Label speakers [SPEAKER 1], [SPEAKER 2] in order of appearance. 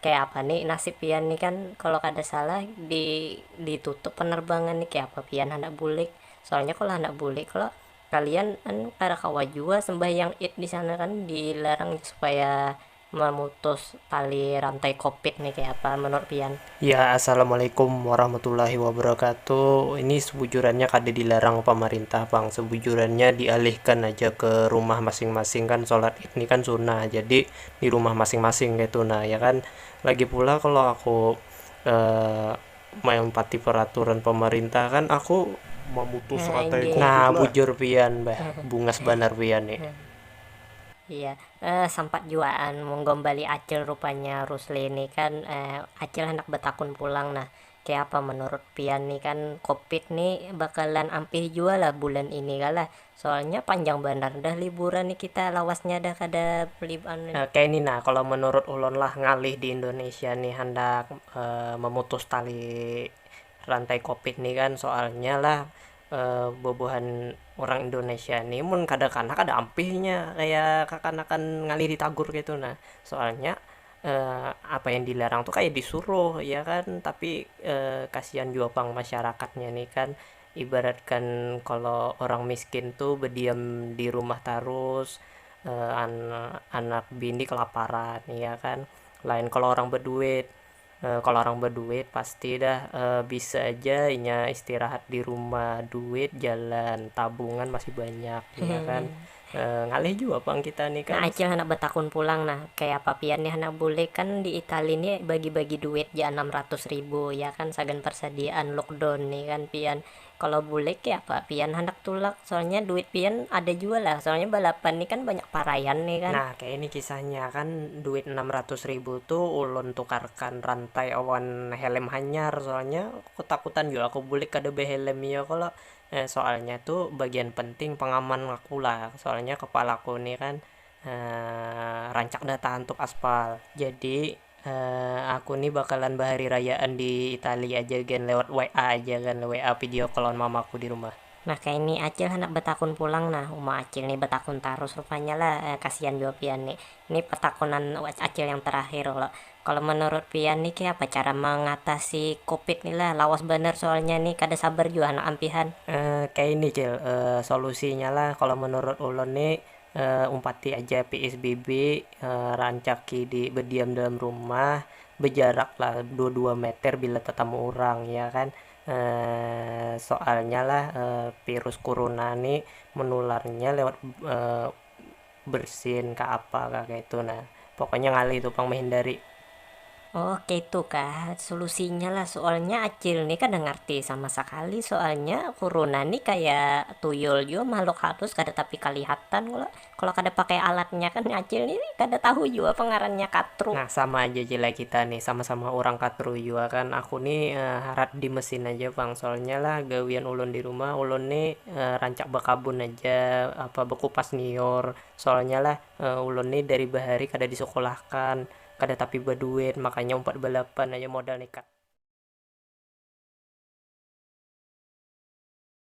[SPEAKER 1] Kaya apa ni nasib pian ni kan kalo kada salah di ditutup penerbangan ni kaya apa pian handak bulik soalnya kalo handak bulik kalo kalian anu kada kawa jua sembahyang id disana kan dilarang supaya memutus tali rantai kopit ni kaya apa menurut pian. Ya assalamualaikum
[SPEAKER 2] warahmatullahi wabarakatuh ini sebujurannya kada dilarang pamarintah pang sebujurannya dialihkan aja ke rumah masing-masing kan solat id ni kan sunnah jadi di rumah masing-masing kayak itu nah ya kan lagi pula kalau aku uh, melompati peraturan pemerintah kan aku memutus nah, rantai covid nah
[SPEAKER 1] bujur pian
[SPEAKER 2] bah bungas banar pian nih Iya,
[SPEAKER 1] eh, sempat juaan menggombali Acil rupanya Rusli ini kan eh, Acil hendak betakun pulang nah Kayapa menurut pian nih kan covid nih bakalan ampih jua lah bulan ini kah lah soalnya panjang banar dah liburan nih kita lawasnya dah kada anu. Kaya ini nah kalo
[SPEAKER 2] menurut ulun lah ngalih di indonesia nih handak memutus tali rantai covid nih kan soalnya lah bubuhan urang indonesia nih mun kada kanah kada ampih inya kaya kakanakan ngalih di tagur kaytu nah soalnya. apa yang dilarang tuh kayak disuruh ya kan tapi kasihan jua pang masyarakatnya nih kan ibaratkan kalau orang miskin tuh berdiam di rumah tarus anak bini kelaparan ya kan lain kalau orang berduit kalau orang berduit pasti dah bisa aja inya istirahat di rumah duit jalan tabungan masih banyak ya kan Ngalih jua pang kita ni kan. Nah acil handak batakun
[SPEAKER 1] pulang nah, kayapa pian ni handak bulik, kan di itali ni bagi-bagi duit ja anam ratus ribu ya kan sagan parsadiaan lookdown ni kan pian, kalo bulik kayapa pian handak tulak, soalnya duit pian ada jua lah, soalnya balapan ni kan banyak paraian ni kan. Nah kaya ini kisahnya,
[SPEAKER 2] kan duit anam ratus ribu tu ulun tukarkan rantai awan helm hanyar, soalnya ketakutan jua aku bulik kada behelm iyo kalo, Nah soalnya tu bagian penting pengaman aku lah, soalnya kepalaku ni kan rancak dah tahantuk aspal, jadi aku ni bakalan bahari rayaan di itali aja gen lewat WA aja kan, WA video call lawan mamaku di rumah. Nah kaya ni acil
[SPEAKER 1] handak batakun pulang nah, uma acil ni batakun tarus rupanya lah, kasian jua pian ni, Ni pertakunan acil yang terakhir lo, kalo menurut pian ni kaya apa cara mengatasi covid ni lah, lawas banar soalnya ni kada sabar jua handak ampihan. Kaya ini
[SPEAKER 2] cil, solusinya lah kalo menurut ulun ni umpati aja psbb, rancaki di bediam dalam rumah, bejarak lah dua dua meter bila tetamu urang ya kan, soalnya lah virus kuruna ni menularnya lewat. bersin kah apa kah kaitu nah pokoknya ngalih tu pang mehindari. Oh
[SPEAKER 1] kaitu kah solusinya lah soalnya acil ni kada ngarti sama sakali soalnya kuruna ni kaya tuyul jua mahluk halus kada tapi kalihatan kalo kalo kada pakai alatnya kan acil ni kada tahu jua apa ngarannya katru. Nah sama aja ja lah
[SPEAKER 2] kita ni sama sama urang katru jua kan aku ni harat di mesin aja pang soalnya lah gawian ulun di rumah ulun ni. rancak bakabun haja, apa bakupas liur, soalnya lah ulun ni dari bahari kada disekolahkan, kada tapi baduit, makanya umpat balapan haja modal nekat.